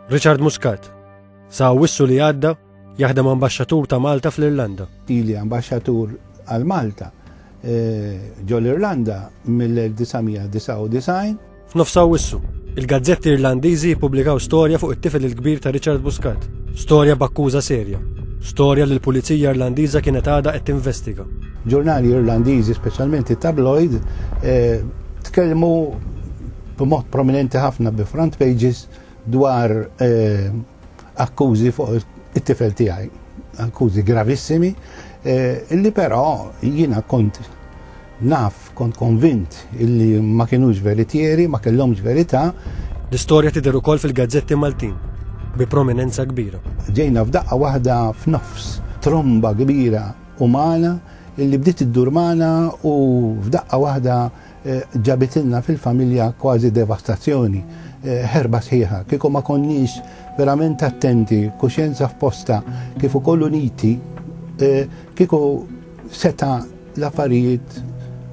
Richard Muscat, sa' wissu li għadda jaħdem ambasċatur ta' Malta fl-Irlanda. Ili ambasċatur għal Malta eh, ġo l-Irlanda mill-1999. F'nofsa wissu, il-gazzetti Irlandiżi jippubblikaw storja fuq it-tifel il-kbir ta' Richard Muscat, storja b'akkuża serja, storja li l-Pulizija Irlandiża kienet għadha qed tinvestiga. Ġurnali Irlandiżi, speċjalment it-tabloid, eh, tkellmu b'mod prominenti ħafna bi front pages dwar eh, akkużi fuq it-tifel tiegħi, akkużi gravissimi, eh, illi però jiena kont naf, kont konvint illi ma kienux veritieri, ma kellhomx verità. L-istorja tidher ukoll fil-gazzetti Maltin bi prominenza kbira. Ġejna f'daqqa waħda f'nofs tromba kbira umana illi bdiet iddur magħna u f'daqqa waħda Ġabitilna fil-familja kważi devastazzjoni, ħerba sħiħa. Kieku ma konniex verament attenti, kuxjenza f'posta, kif ukoll uniti, kieku seta' l-affarijiet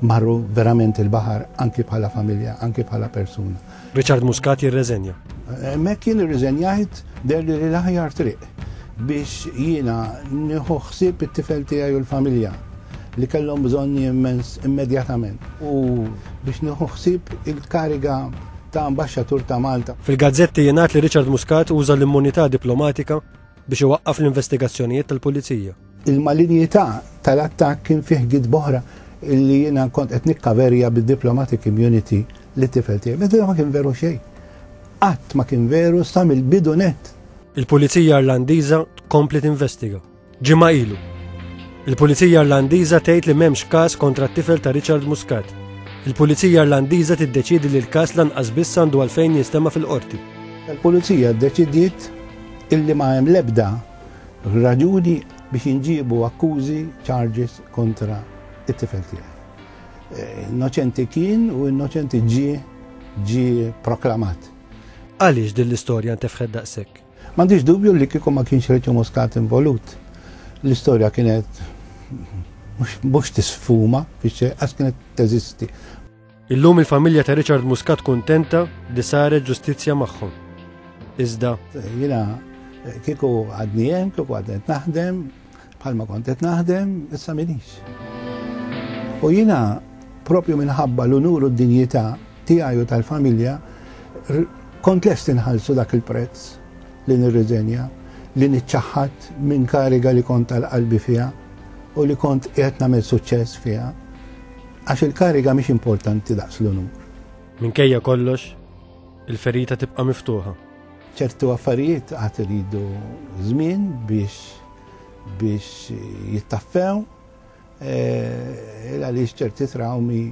marru verament il-baħar anki bħala familja, anki bħala persuna. Richard Muscat jirreżenja. Hemmhekk jien irriżenjajt derli li l-aħjar triq biex jiena nieħu ħsieb it-tifel tiegħi u l-familja li kellhom bżonni immens immedjatament u biex nieħu ħsieb il-kariga ta' Ambaxxatur ta' Malta. Fil-gazzetti jingħad li Richard Muscat uża l-immunità diplomatika biex iwaqqaf l-investigazzjonijiet tal-Pulizija. Il-malinjità tal-attakk kien fih gidb oħra illi jiena kont qed nikkaverja bid-diplomatic immunity li tifel tiegħi. Meta ma kien veru xejn. Qatt ma kien veru sa mill-bidu net. Il-Pulizija Irlandiża tkompli tinvestiga. Ġimgħa ilu. Il-Pulizija Irlandiża tgħid li m'hemmx każ kontra t-tifel ta' Richard Muscat. Il-Pulizija Irlandiża tiddeċiedi li l-każ lanqas biss għandu għalfejn jinstema' fil-qorti. Il-Pulizija ddeċidiet illi ma hemm l-ebda raġuni biex jinġiebu akkużi, charges, kontra it-tifel tiegħi. Eh, innoċenti kien u innoċenti ġie ġie proklamat. Għaliex din l-istorja ntefħed daqshekk? M'għandix dubju li kieku ma kienx Reċu Muscat involut. L-istorja kienet mhux tisfuma fix-xejn għax kienet teżisti. Illum il-familja ta' Richard Muscat kuntenta li saret ġustizzja magħhom. Iżda. Jina kieku għadni hemm, kieku għadni naħdem, bħalma kont qed naħdem, issa minix. U jina propju minħabba l-unur u d-dinjità tiegħi u tal-familja kont lest inħallsu dak il-prezz li nirriżenja li niċċaħħat minn kariga li kont tal-qalbi fiha u li kont qed nagħmel suċċess fiha. Għax il-kariga mhix importanti daqs l-unur. Minkejja kollox, il-ferita tibqa' miftuħa. Ċertu affarijiet għad iridu żmien biex biex jittaffew eh, għaliex ċerti trawmi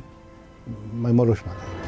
ma jmorrux malajr.